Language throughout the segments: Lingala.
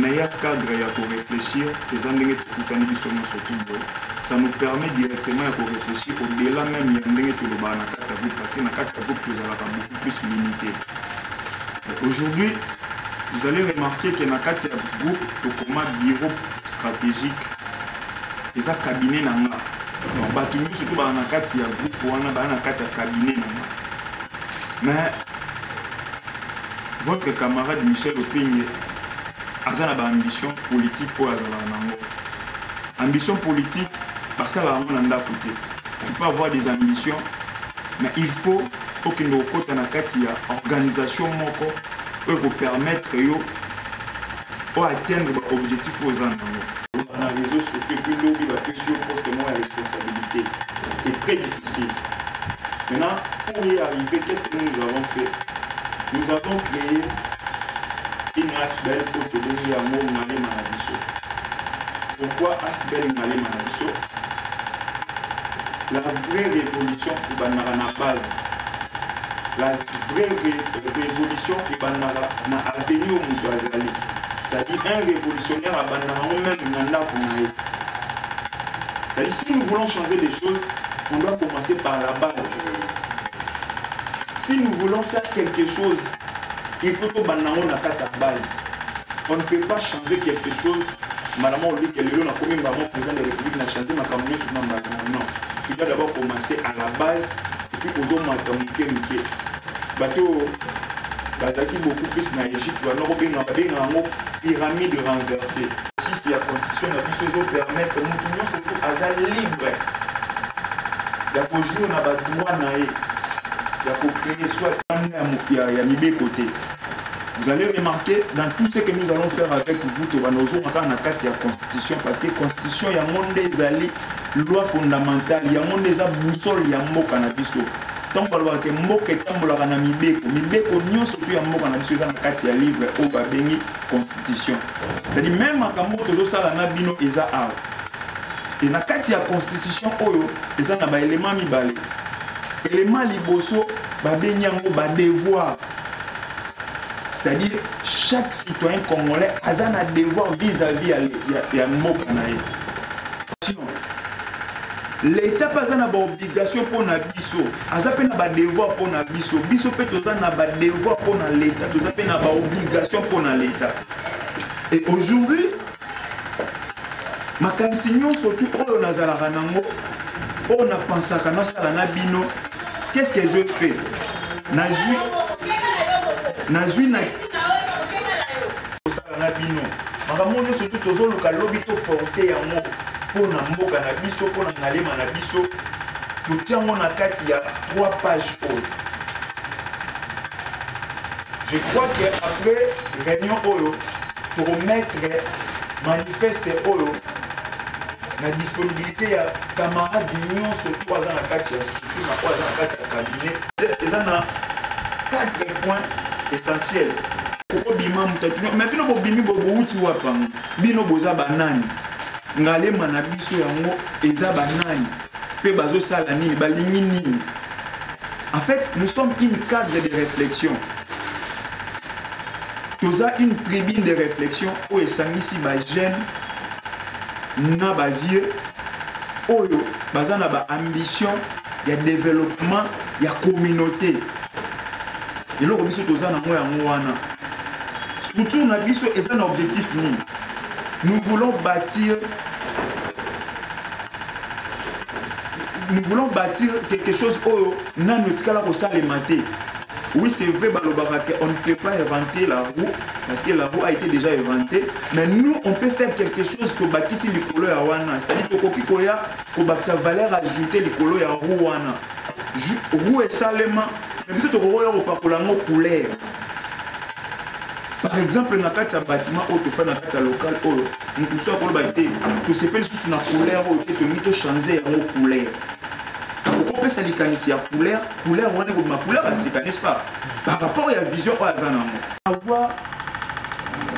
Meilleur cadre ya ko reflechir eza ndenge tokutani biso nionso tout boye. Ça nous permet directement ya ko reflechir au delà meme ya ndenge tolobaka na kati ya groupe parce que na kati ya groupe tozalaka beaucoup plus limité. Aujourd'hui, vous allez remarquer que na kati ya groupe tokoma bureau stratégique eza cabinet na nga. Donc bato nyonso to baa na kati ya groupe wana baa na kati ya cabinet na nga. mais votre camarade michel openge aza na baambition politique oyo azalaka nango ambition politique basalaka yango na ndako te tu peux avoir des ambitions mais il faut okende kokota na kati ya organisation moko oyo ekopermettre yo o atteindre ba objectif oyo oza na yango. na reseaux sociaux puis lobi ba pesi yo poste moko ya responsabilité c'est très difficile maintenant pour y arriver qu'est-ce que nous, nous avons fait nous avons créé une asbel mpo tobengi yango ngalema na biso pourquoi asbel ngalema na biso la vraie révolution ebandaka na base La vraie révolution ebandaka na avenue oyo moto azali c'est-à-dire un révolutionnaire abandaka yango meme na ndako na ye c'est-à-dire si nous voulons changer les choses on doit commencer par la base si nous voulons faire quelque chose il faut tobanda yango na kati ya base on ne peut pas changer quelque chose malama olike lelo nakomi mbala moko président de la république na change makambo nyonso na mbala non tu dois d'abord commencer à la base epuis kozomata moke moke bato oyo bazalaki beaucoup plus na egypte banda kobenga babenga yango pyramide renversé sisi ya constitution na biso ezopermettre moto nyonso tu aza libre ya kojour na badroit na ye ya kocreye soit ya mibeko te Vous allez remarquer dans tout ce que nous allons faire avec vous, Tobanozo, on va dans la constitution parce que la constitution, il y a un monde des alliés. Loi fondamentale yango nde eza boussole ya mboka na biso. Ntango balobaka ke mboka etambolaka na mibeko, mibeko nyonso tu ya mboka na biso eza na kati ya livre oyo babengi constitution. C'est-à-dire meme makambo oyo tozosala na bino eza awa. E na kati ya constitution oyo eza na baelema mibale. Elema liboso babengi yango badevoir c'est-à-dire chaque citoyen congolais aza na devoir vis-à-vis ya mboka na ye leta mpe aza na baobligation mpo na biso aza mpe na badevoir mpo na biso biso mpe toza na badevoir mpo na leta toza mpe na baobligation mpo na leta et aujourd'hui makanisi nyonso tu oyo nazalaka nango oyo napansaka nasala na bino qu'est-ce que je fais nazwi nazwi na kosala na bino makambo nyonso tu tozoluka lobi toporte yango mpo na mboka na biso mpo na ngalema na biso totyango na kati ya 3 page oyo Je crois que après réunion oyo toko mettre manifeste oyo na disponibilité ya camarade nyonso oyo aza na kati ya structure na oyo aza na kati ya cabinet eza na 4 points essentiel okobima moto atuni me bino bobimi bobouti wapango bino boza banani ngalema na biso yango eza banani mpe bazosala nini balingi nini En fait, nous sommes une cadre de réflexion. toza une tribune de réflexion oyo esangisi bajeune na bavieux oyo baza na baambition ya développement ya communauté eloko biso toza nango yango wana structure na biso eza na objectif nini nous voulons bâtir nous voulons bâtir quelque chose oyo nanu etikala kosalema te oui c'est vrai balobaka que on ne peut pas inventer la roue parce que la roue a été déjà inventée mais nous on peut faire quelque chose tobakisi likolo ya wana c'est-à-dire tokoki koya kobakisa valeur ajoutée likolo ya roue wana roue esalema mais biso tokokoya kopakola yango couleur par exemple na kati ya bâtiment oyo tofai na kati ya local oyo moto mosusu akoloba te tosepeli lisusu na couleur oyo te tolingi tochange yango couleur akokopesa likanisi ya couleur couleur wana ekobima couleur ya sika n'est-ce pas par rapport ya vision oyo aza nango avoir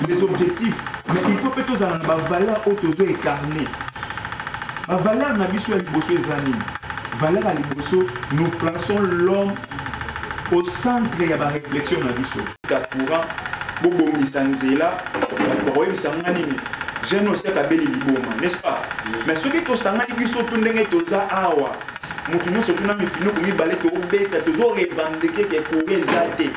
les objectifs mais il faut mpe tozala na bavaleur oyo tozo écarne bavaleur na biso ya liboso eza nini valeur ya liboso nous plaçons l'homme au centre ya baréflexion na biso ya courant bobongisa nzela bato bakoyebisa nga nini jeune osi akabeli liboma n'est-ce pas mais soki tosangani biso tu ndenge toza awa moto nyonso tuna mifinuku mibale tobeta tozo revendike ke kore eza te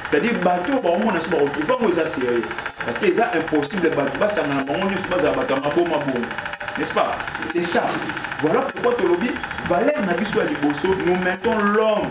c'est-à-dire bato oyo baomona so bakoki vango eza sérieux parce que eza impossible bato basangana bango nyonso bazala bato ya maboma bongo n'est-ce pas c'est ça voilà pourquoi tolobi valeur na biso ya liboso nous mettons l'homme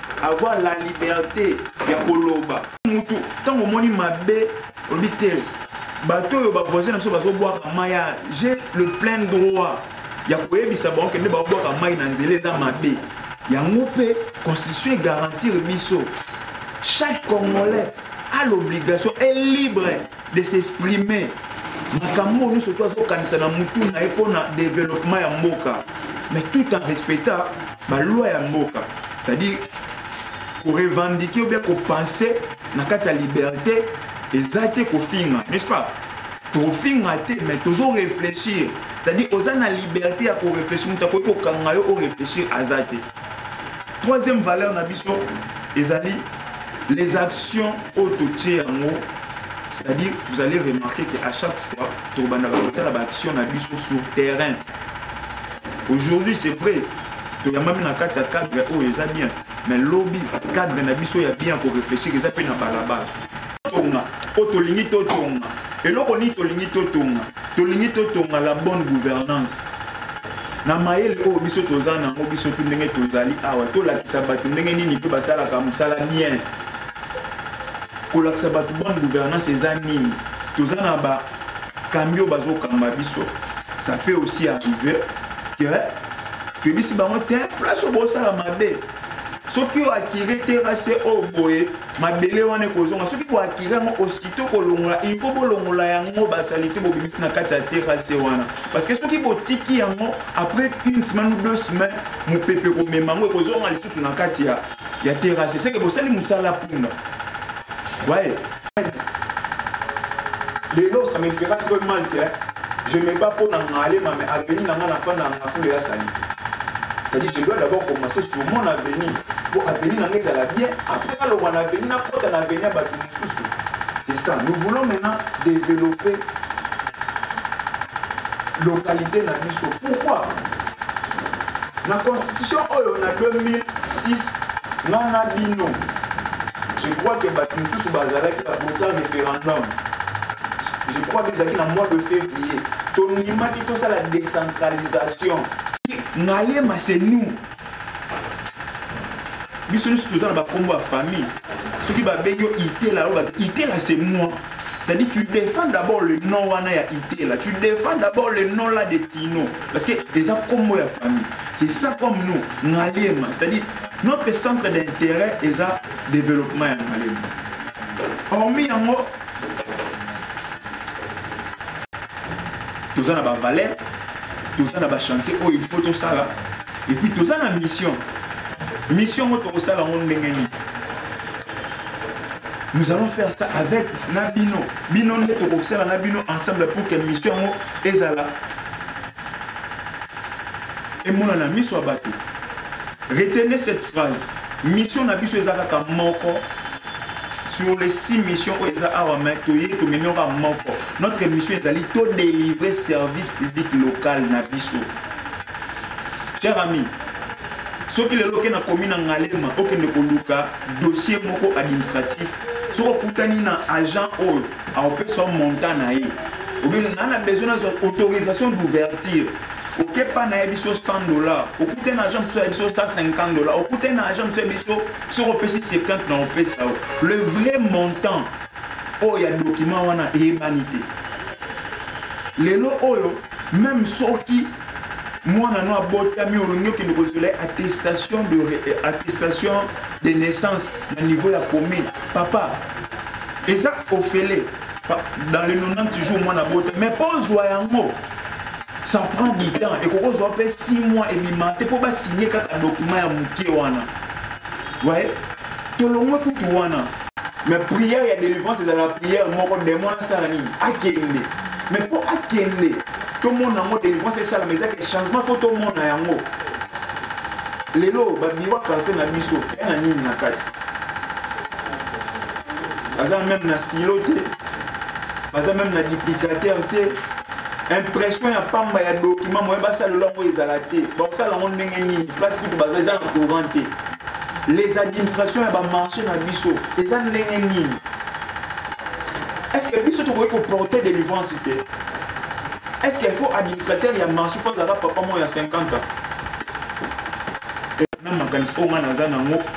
avoir la liberté ya koloba mutu ntango omoni mabe olobi te bato oyo bavoisin na biso bazobwaka mai ya j'ai le plein droit ya koyebisa bango kende babwaka mai na nzela eza mabe yango mpe constitution egarantir biso chaque congolais a l'obligation est libre de s'exprimer makambo oyo nyonso to azokanisa na mutu na ye mpo na développement ya mboka mais tout en respectant baloi ya mboka c'est-à-dire korevendiquer ou bien kopense na kati ya liberté eza te kofinga n'est-ce pas tofinga te mais tozo réfléchir c'est-à-dire oza na liberté ya koréfléchir moto akoki kokanga yo oréfléchir aza te troisième valeur na biso ezali les actions oyo totie yango c'est-à-dire vous allez remarquer que à chaque fois tobandaka kosala baaction na biso sur terrain aujourd'hui c'est vrai toyambami na kati ya cadre oyo eza bien mais lobi cadre na biso ya bien korefléchir eza mpe na balabala tonga oyo tolingi totonga eloko nini tolingi totonga tolingi totonga la bonne gouvernance na mayele oyo biso toza nango biso tu ndenge tozali awa tolakisa bato ndenge nini mpe basalaka mosala bien kolakisa bato bonne gouvernance eza nini toza na bakambi oyo bazokamba biso ça peut aussi arriver que toyebisi bango te place oyo bosala mabe soki oyo akire terase oyo boye mabele wana ekozonga soki boakire yango osito kolongola il faut bolongola yango basalite bobimisi na kati ya terase wana parce que soki botiki yango après une semaine ou deux semaines mopepe komema yango ekozonga lisusu na kati ya, ya terase seke bosali mosala punda waye lelo ça me fera très mal que je me bats mpo na ngalema mais aveni na ngai na fana na ngafule ya salite c'est-à-dire je dois d'abord commencer sur mon avenir mpo avenir na ngai ezala bien Après kaloba na veni na kota na veni ya bato mosusu. C'est ça. Nous voulons maintenant développer localité na biso. Pourquoi? Na constitution oyo na 2006 ngai na bino je crois que bato mosusu bazalaki na bota référendum je crois ezalaki na mois de février tondimaki tosala décentralisation nayema c'est nous biso nyonso toza na bakombo ya famille soki babengi yo itela alobaka itela c'est moi c'est-à-dire tu défends d'abord le nom wana ya itela tu défends d'abord le nom là de tino parce que eza kombo ya famille c'est ça comme nous ngaliema c'est-à-dire notre centre d'intérêt eza développement ya ngaliema hormis yango toza na bavaleur toza na ba chantier oyo il faut tosala et puis toza na mission mission yango tokosala yango ndenge nini nous allons faire ça avec na bino bino nde tokokisala na bino ensemble pour que mission yango ezala emonana miso ya bato retenez cette phrase mission na biso eza kaka moko sur les six missions oyo eza awa mai toye tomemi yango moko notre mission ezali todelivre service public local na biso cher ami soki lelo oke na komi na ngalema okende koluka dossier moko administratif soki okutani na agent oyo akopesa yo montant na ye obino naa na besoin nazwa autorisation d'ouverture okepa na ye biso 100 dollar okutani na agent mosusu ya biso 150 dollar okutani na agent mosusu ya biso soki opesi 70 na opesa yo le vrai montant oyo ya document wana eyebani te lelo oyo meme soki mwana no abotami olongi okende kozwela ye attestation de, eh, attestation de naissance na niveau ya commune papa eza ofele dans le 90 jours mwana abota mais mpo ozwa yango ça prend du temps ekoki kozwa mpe 6 mois ebima te mpo basigne kaka document ya moke wana waye tolongwe kutu wana mais prière ya délivrance ezala prière moko demon asala nini akende mais mpo akende tomona yango délivrance esalama eza ke changement fo tomona yango lelo babiro quartier na biso ya na nini na kati baza meme na stylo te baza meme na duplicateur te impression ya pamba ya document moye basalela yango ezala te bakosala yango ndenge nini place kutu baza eza na courant te les administrations ya bamarché na biso eza ndenge nini est ce que biso tokoki koporte délivrance te est ce qu'il faut administrateur ya marché fo azalaka papa moko ya 50 ans na makanisi oyo ngai naza nango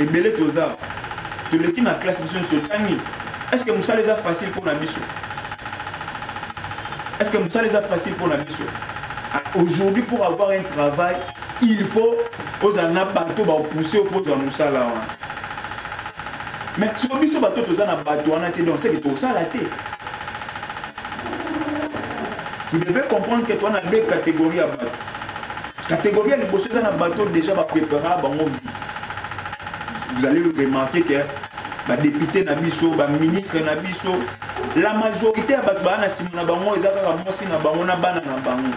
ebele toza toleki na classe biso nyonso totangi est ce que mosala eza facile mpo na biso est ce que mosala eza facile mpo na biso ah, aujourd'hui pour avoir un travail il faut ozala na bato baopousse yo mpo ozwa mosala wana mais siko biso bato toza na bato wana te donc seke tosala te vous devez comprendre que toza na deux catégorie ya bato Catégorie ya liboso eza na bato déjà ba prépara bango vie. Vous allez remarquer que ba députés na biso, ba ministres na biso, la majorité ya bato baa na nsima na bango eza kaka mwasi na bango na bana na bango.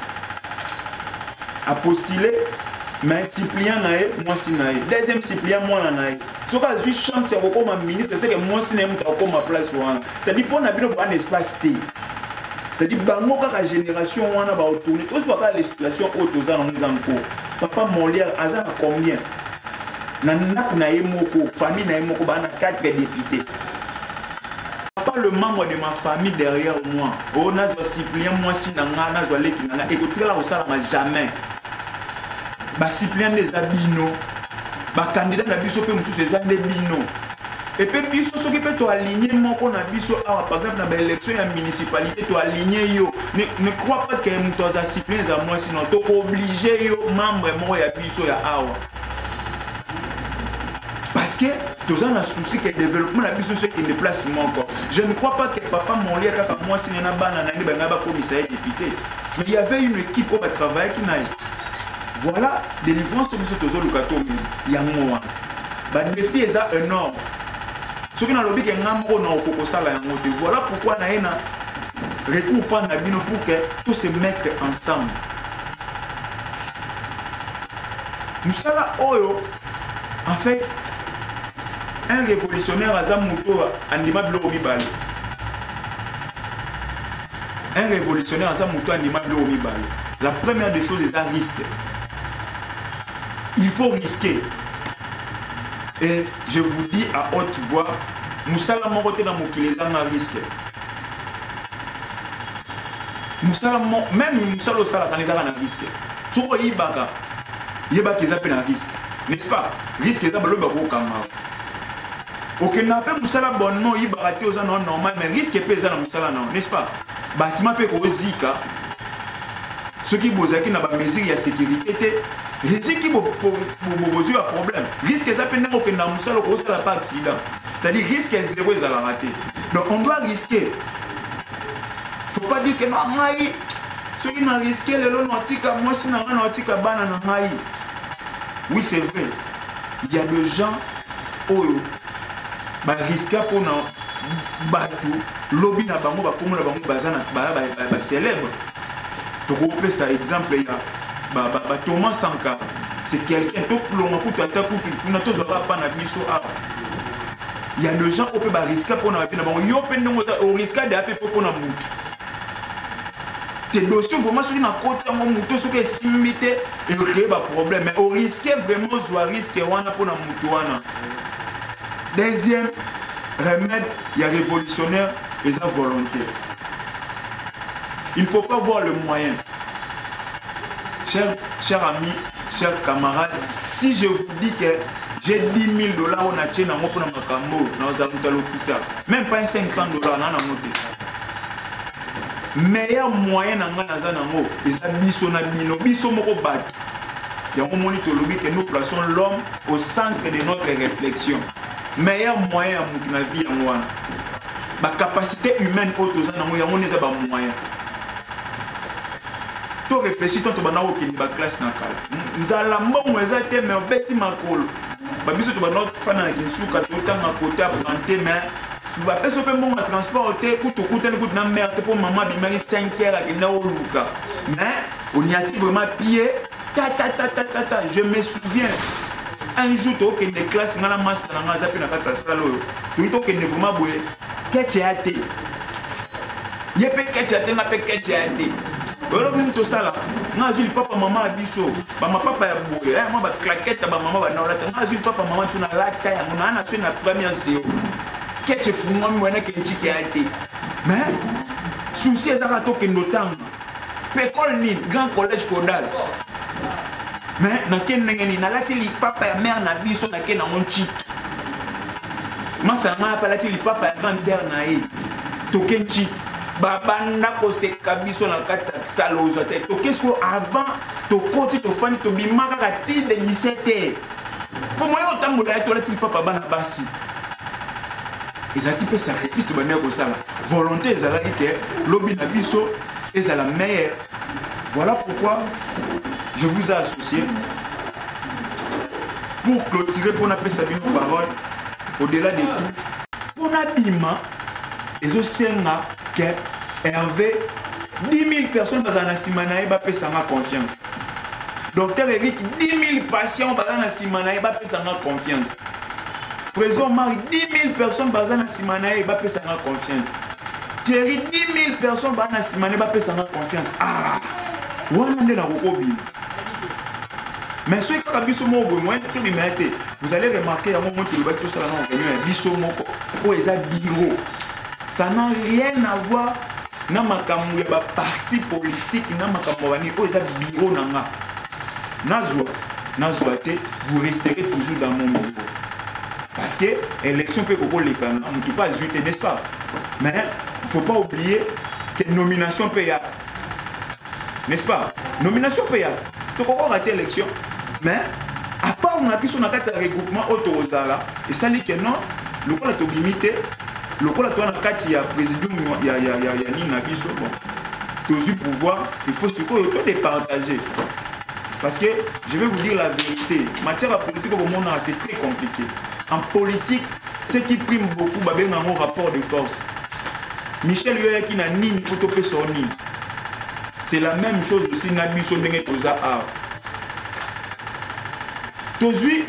A postuler mais suppliant na ye mwasi na ye deuxième suppliant mwana na ye soki azwi chance ya kokoma ministre seke mwasi na ye moto akokoma place wana c'est-à-dire mpo na bino boa na espace te c'est-à-dire bango kaka génération wana baotourne tozwa kaka legislation oyo toza nango eza nko papa molière aza na combien na ndako na ye moko famille na ye moko baa na 4 député papa le membre de ma famille derrière moi oyo oh, nazwa suppliant mwasi na ngai nazwa leki na ngai ekotikala kosalama jamais basiplea nde eza bino bakandida na biso mpe mosusu eza nde bino epe biso soki mpe toaligne moko na biso awa par exemple na baélection ya municipalité toaligne yo ne, ne crois pas ke moto aza siplin eza mwasi no tokooblige yo membre moko ya biso ya awa parce que toza na souci ke développement na biso sokende place moko je ne crois pas que papa molia kaka mwasi ne na bana na ye balinga bakomisa ye député mais il y avait une équipe oyo batravaillaki na ye voilà délivrance biso tozoluka to meme yango wana badefi eza énorme soki nalobi ke ngai moko na okokosala yango te voilà pourquoi na ye na recours mpa na bino pour que to se mettre ensemble mosala oyo en fait un révolutionnaire aza moto oyo andima biloko mibale un révolutionnaire aza moto andima biloko mibale la première des choses eza risque il faut risquer et je vous dis à haute voix mosala moko te na mokili ezanga risque mosala même mosala osalaka na ezaka na risque soki oyibaka yeba ke eza mpe na risque n'est-ce pas risque eza balobi bakokanga okendaka mpe mosala abonnement oyibaka te oza nao normal mais risque mpe eza na mosala nao n'est-ce pas batima mpe kozika soki bozalaki na bamesure ya sécurité te risiki bozwi ya problème risque eza mpe ndenge okenda na mosala okosala mpe accident c'est-à-dire risque ya zéro ezalaka te donc on doit risquer faut pas dire que non ngai soki na riske lelo natika mwasi na ngai natika bana na ngai oui c'est vrai il y a des gens oyo bariska mpona bato lobi na bango bakomo na bango baza bacélèbre tokopesa exemple ya bathomas sankara c'est quelqu'un tokolonga kutu ata kutu kuna tozwaka apa na biso awa ya le gens oyo mpe bariska mpona bapi na bango yo mpe ndenge oza oriska de ape mpo mpona motu te dossier vraiment soki nakoti yango moto soki esimbi te ecree baproblème mais oriske vraiment ozwa riske wana mpona moto wana deuxième remède ya révolutionnaire eza volonté il faut pas voir le moyen cher, cher ami cher camarade si je vous dis que j'ai 10 000 dollars oyo natie nango mpona makambo naoza kuta lokuta même pas 500 dollars na nango te meilleur moyen na ngai naza nango eza biso na bino biso moko bato yango moni tolobi ke nous plaçons l'homme au centre de notre réflexion meilleur moyen ya motu na vie yango wana bacapacité humaine oyo toza nango yango nde eza bamoyen to réfléchi to tobanda kokende baklasse na kala nzala mbongo eza te me obeti makolo babiso tobanda kofanda na kinsuka totanga kote aprante mais bapesi mpe mbongo ya transport te kutu okutani kutu na mare te mpo mama abimaki 5 heure akenda oluka mais oniati vraiment pie tatatatatata je me souviens un jour tokokende classe ngai na masta na ngai aza mpe na kati ya sale oyo toyi tokende vraiment boye keche ya te ye mpe keche ya te ngai mpe keche ya te oyolobi nini tosala ngai azwi lipapa mama ya biso bamapapa ya boye eh, mwa baclaquete ya bamama banaolata nga azwi papa mama biso nalata yango naa na soi na premier zero kece efungwami wana kenjike ya te mais susi ezaka tokende otanga pekole nini grand collège codal mais nake ndenge nini nalati lipapa ya mare na biso nake nango nciki masa ya ngai apalati lipapa ya grande sere na ye toke nciki babanda koseka biso na kati ya sale ozwa te toke sikoyo avant tokoti tofandi tobima kaka ti denise te mpo moye kotambola ya tolati lipapa bana basi ezalaki mpe sacrifice tobandi ya kosala volonté ezalaki ke lobi na biso ezala meilleur voilà pourquoi je vous ai associé pour clôturer mpo napesa bino parole au-delà de tout mpo nabima ezosenga ke herve 10 000 personnes bazala na nsima na ye bapesa nga confiance docteur eric 10 000 patients baza na nsima na ye bapesa nga confiance président mari 10 000 personnes baza na nsima na ye bapesa nga confiance thierry 10 000 personnes baza na nsima na ye bapesa nga confiance ah wana nde nakokobima mais soki kaka biso moko boye moyen tobima te vous allez remarquer yango moi tolobaki tosala na réunion ya biso moko oyo eza biro ça n'a rien à voir na makambo ya baparti politike na makambo ya banini oyo eza biro na nga nazwa nazwa te vous resterez toujours dans mon biro parce que élection mpe kokoleka na motu mpe azwi te n'est ce pas mais faut pas oublier que nomination mpe ya n'est-ce pas nomination mpe ya tokokora te élection mais apport na biso na kati ya regroupement oyo tokozala esali ke non lokola tobimi te lokola toa na kati ya présidium ya, ya, ya, ya nini na biso bon tozwi pouvoir il faut sikoyo todepartage parce que je vais vous dire la vérité matière ya politique okomonaka c'est très compliqué en politique ce qui prime beaucoup babenga yango rapport de force michel yo oyaki na nini mpo topesa yo nini c'est la même chose aussi na biso ndenge toza awa tozwi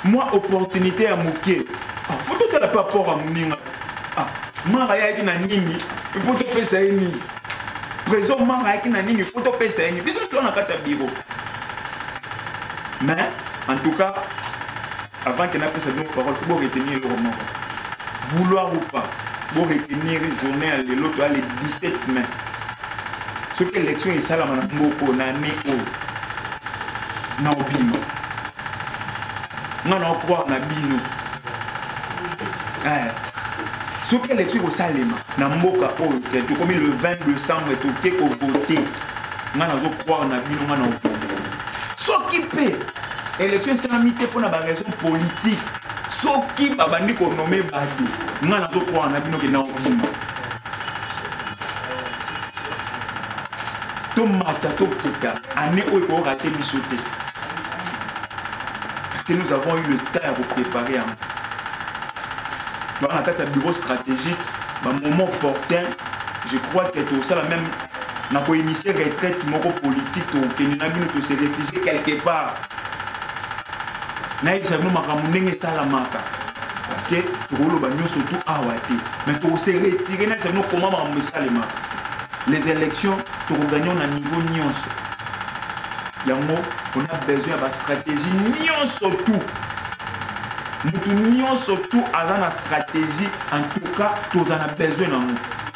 mwa opportunité ya moke ah, fo totala mpe apport ya moninga te ah, mara ayaki na nini mpo topesa ye nini présent mara ayaki na nini mpo topesa ye nini biso toza na kati ya biro mais en tout cas Avant que napesa bino parole, faut bo retenir eloko moko. Vouloir ou pas, bo retenir journée ya lelo to le 17 mai. Soki élection esalama na mboko na année oyo na obima. Nga na croire na bino. Eh. Soki élection ekosalema na mboka oyo te tokomi le 20 décembre toke kovote nga nazo croire na bino nga na obima. Soki mpe election esalami te mpo na baraison politique soki babandi konome bato ngai nazokroire na bino kenda kobima tomata tokita année oyo ekoyoka te biso te parce que nous avons eu le temps ya kopréparer yango toyaka na kati ya bureau stratégique bamoment opportun je crois que tosala même na ko initier retraite moko politique tokokende na bino tose réfugie quelque part nayebisa bino makambo ndenge esalamaka parce que tokoloba nyonso tu awa te mais tokose retire nayebisa bino koma makambo esalemaka les élections tokogagnao na niveau nyonso yango on a besoin ya bastratégie nyonso tu motu nyonso tu aza na stratégie en tout cas toza na besoin nango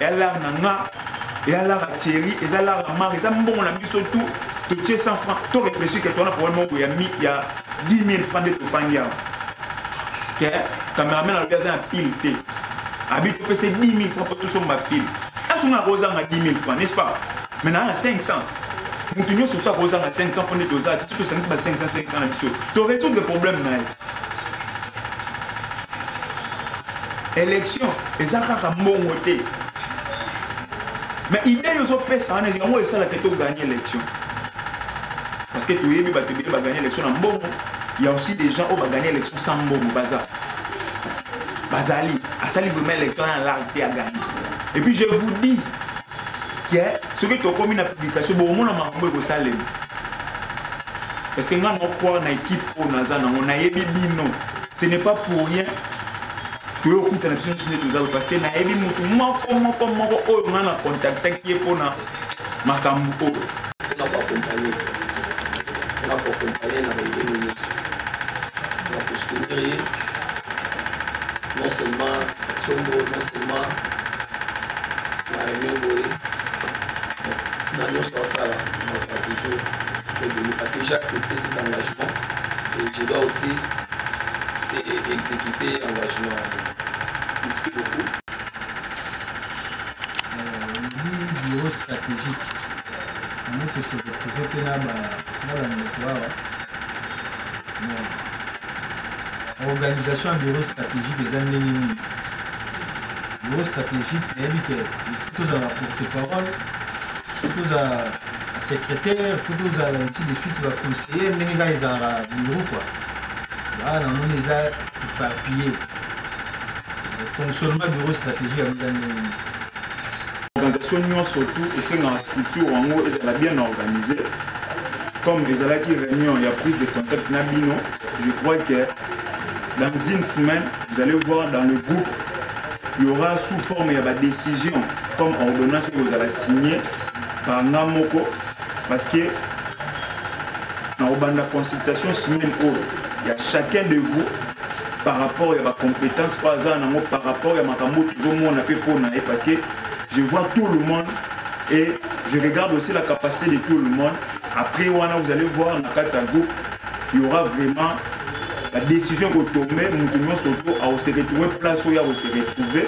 ya lar na nga ya lar ya thierry eza lar ya mare eza mbongo na biso tout totie 100 franc to réfléchir ke towana problème moko ya mi ya 10 000 franc nde tofandi awa ke cameraman alobi aza na pile te abi topese 10 000 franc mpo tosomba pile asonga akozanga 10 000 franc n'est-ce pas mais naa na 500 moto nyonso to akozanga 500 mpo nde toza te so tosangisi ba 500 500 na biso to résoudre problème na ye élection eza kaka mbongo te mais idée yo ozopesa wana yango esalaka to gagne élection parce que toyebi bato ebele baganye élection na mbongo ya aussi des gens oyo baganye élection sans mbongo baza bazali asali vraiment élection ya lal te aganye et puis je vous dis ke soki tokomi na publication bokomona makambo ekosalema parce que ngai naocroire na équipe oyo naza nango nayebi bino ce n'est pas pour rien toye okutana biso nyonso nde toza parce que nayebi motu moko moko moko oyo ngai na contactaki ye mpo na makambo oyo na koakompagne na koakompagne na baidemi nyonso na kosoutenir ye non seulement na congo non seulement na rene boye na nyonso asala nazwa toujours ebimi parce que j'ai accepté cet engagement et je dois aussi e-, e-, exécuter engagement yango merci beaucoup bureau euh, stratégique yango tose retrouve mpe na bandeko awa Organisation ya bureau strategique eza ndenge nini? Bureau strategique nayebi ke faut tozala ba porte parole, faut tozala ba secrétaire, faut tozala ainsi de suite ba conseiller ndenge kaka ezalaka bureau quoi. Awa namoni eza éparpillé. Fonctionnement bureau strategique yango eza ndenge nini? organisation nyonso tu esengaka structure yango ezala bien organisé comme ezalaki réunion ya prise de contact na bino je crois que dans une semaine vous allez voir dans le groupe il y aura sous forme ya badécision comme ordonnance oyo ozala signe par nga moko parce que nakobanda consultation semaine oyo ya chacun de vous par rapport ya ba compétence oyo aza nango par rapport ya makambo tozomona mpe mpo na ye parce que je vois tout le monde et je regarde aussi la capacité de tout le monde après wana vous allez voir na kati ya groupe il y aura vraiment la décision kotombe moto nyonso to aose retrouve place oyo akose retrouve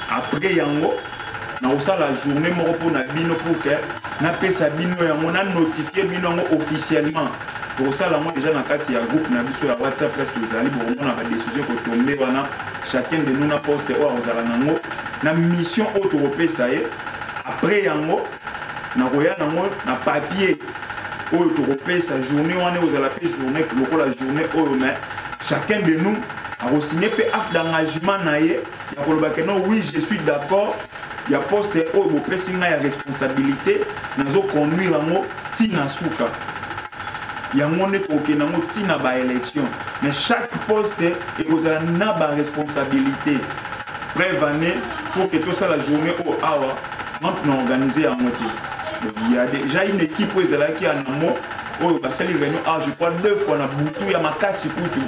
après yango nakosala journée moko mpo na bino pour que napesa bino yango na notifie bino yango officiellement tokosala yango deja na kati ya groupe na biso ya whatsapp place tozali bokomona badecision ekotombe wana chacun de nous na poste oyo akozala nango na mission oyo tokopesa ye après yango nakoya nango na papier oyo tokopesa journée wana ekozala mpe journée lokola journée oyo mais chacun de nous akosigne mpe acte d'engagement na ye ya koloba ke non oui je suis d'accord ya poste oyo bopesi ngai ya responsabilité nazo conduire yango ntina suka yango nde kokende yango ntina baélection mais chaque poste ekozala na baresponsabilité preuve année pour ke tosala journée oyo awa mante na organise yango te il y a déjà une équipe oyo ezalaki ya namo oyo basali réunion awa je crois deux fois na butu ya makasi kutu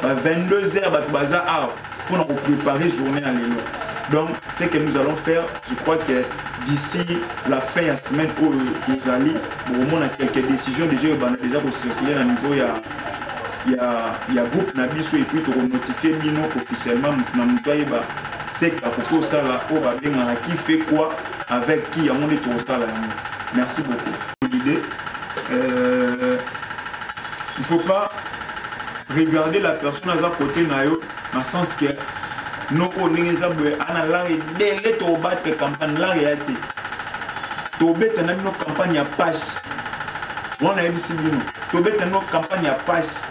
ba 22 heures bato baza awa Pour nous préparer journée à l'élo. Donc, ce que nous allons faire, je crois que d'ici la fin de la semaine où nous allons, au moins quelques décisions déjà, on a déjà circuler à niveau ya ya ya groupe na biso et puis tokonotifie bino officiellement na moto ayeba seke akoki osala oyo babengaka qui fait quoi avec qui yango nde tokosala yango merci beaucoup idée euh, il faut pas regarder la personne aza côté na yo na sens que noko ndenge eza boye ana lar ebele tobatre campagne lar ya te tobeta na bino campagne ya pasi wana nayebisi bino tobeta bino campagne ya pasi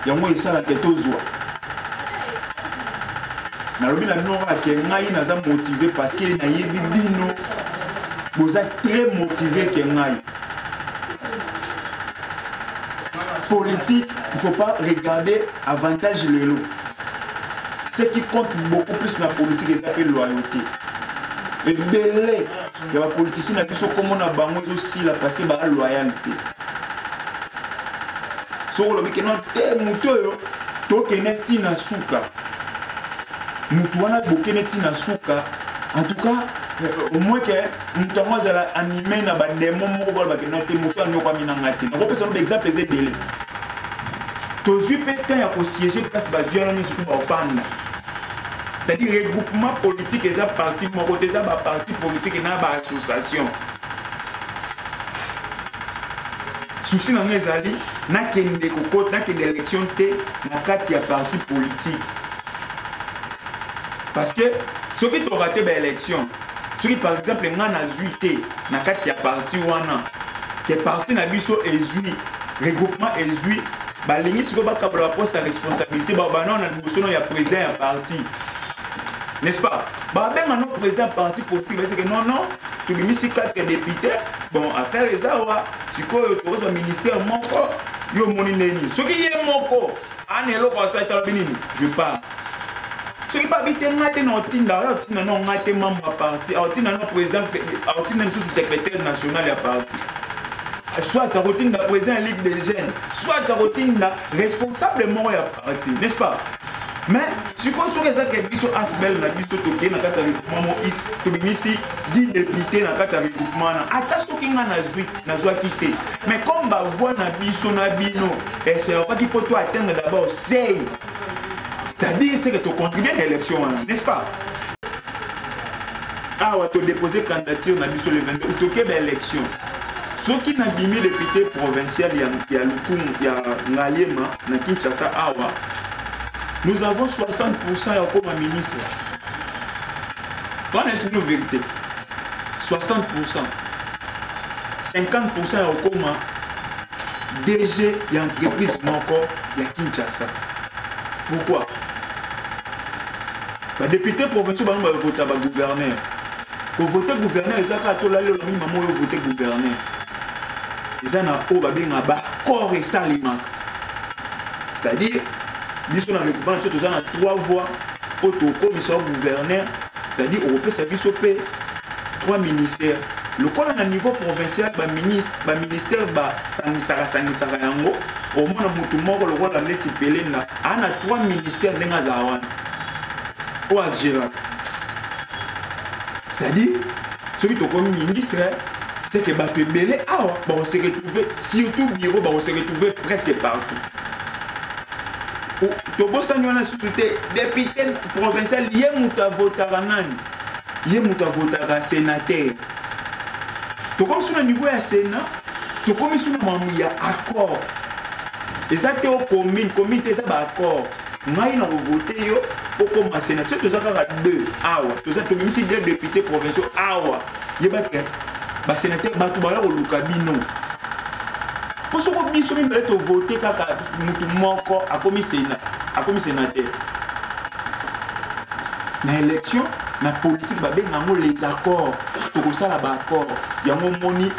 yango esalaka tozwa nalobi na bino kaka ke ngai naza motive parceke nayebi bino boza très motive ke ngai politique il faut pas regarder avantage lelo ce qui compte beaucoup plus na politique eza mpe loyauté ebele ya bapolitisien na biso komona bango ezosila parce que baa loyal te soki olobi kena te moto oyo tokende ntina suka moto wana bokende ntina suka en tout cas euh, au moins que moto yango azala anime na bademo moko balobake no te moto anyokwami na ngai te nakopesa no baexemple eza ebele tozwi mpe temps ya kosiege place baviole nyonso mpo baofanda c'est-à-dire regroupement politique eza parti moko te eza baparti politique na baassociation susi na ngai ezali nakende kokota nakende élection te na kati ya parti politique parce que soki torate baélection soki par exemple ngai nazwi te na kati ya parti wana ke parti na biso ezwi regroupement ezwi balingi sikoyo bakabola baposte ya responsabilité babana na liboso no ya président ya parti n'est-ce pas babenga no président ya parti politique baseke non non tobimisi 4 député bon affaire eza awa sikoyo tokozwa ministère moko yo omoni ndeni soki ye moko Anne eloko asali talobi nini je pars soki babi te ngai te na otinda oyo otinda no ngai te membre ya parti aotinda no président aotinda lisusu secrétaire national ya parti soit akotinda président ya ligue des jeunes soit akotinda responsable moko ya parti n'est ce pas mais sikoyo soki eza ke biso asbel na biso tokei na kati ya regroupement mo x tobimisi 10 député na kati ya regroupement wana ata soki ngai nazwi te nazwaki te mais comme bavoi na biso na bino eselakaki mpo to atteindre d'abord sei c'est-à-dire c'est que tocontribue na élection wana n'est-ce pas awa todépose candidature na biso le 22 tokeba élection soki nabimi député provincial ya, ya lukumu ya ngaliema na kinshasa awa nous avons 60 ya kokoma ministre wana esino vérité 60% 50% ya kokoma dg ya entreprise moko ya kinshasa pourquoi badepute provinciaux bango bavota bagouverneur kovote gouverneur eza kaka tolali olami mama oyo ovote gouverneur eza na oyo babengaka bacor esalemaka c'est-à-dire biso na recoupant biso toza na trois voix oyo tokomisa gouverneur C'est-à-dire okopesa biso mpe trois ministères lokola na niveau provincial baministère basangisaka sangisaka yango omona motu moko lokola neti pelenda ana trois ministère ndenge azala wana oyo ageraka c'est-à-dire soki tokomi ministre c'est que bato ebele awa bakose retrouve surtout bureau bakose retrouve presque partout tobosani wana susu te depute provincial ye moto avotaka nani ye moto avotaka senateur tokomi so na niveau ya senat tokomi so na mamu ya accord eza te o commune commune te eza baaccord ngai na kovote yo okoma senat so toza kaka deux awa toza tobimisi deux depute provinciaux awa yeba ke ba sénateur bato baya koluka bino mpo soko biso mibale tovote kaka motu moko akomi sena akomi sénateur na élection na politike babenga yango les accords tokosala baaccord yango omoni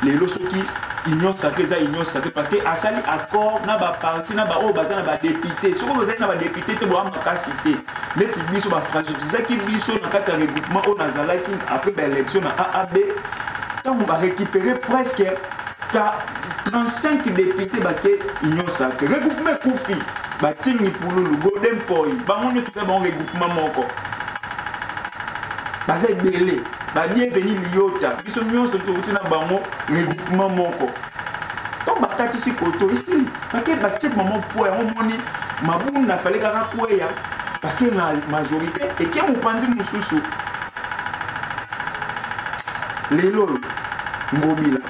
lelo soki union sacré eza union sacré parce que asali accord na baparti na baoyo baza na badepute soki bozali na badepute te boya makasi te neti biso bafragilisaki biso na kati ya regroupement oyo nazalaki après baélection na aab ntango barécupere presque 35 député bake union sacre regroupement ekufi batimi pululu gode mpoi bango nde toza bango regroupement moko baza ebele babienveni liyota biso nyonso touti na bango regroupement moko ntango bakatisi koto esili bake batie mama mpo yango moni mabunu na fale kaka kweya parce que na majorité eke mopanzi mosusu lelo oyo ngobila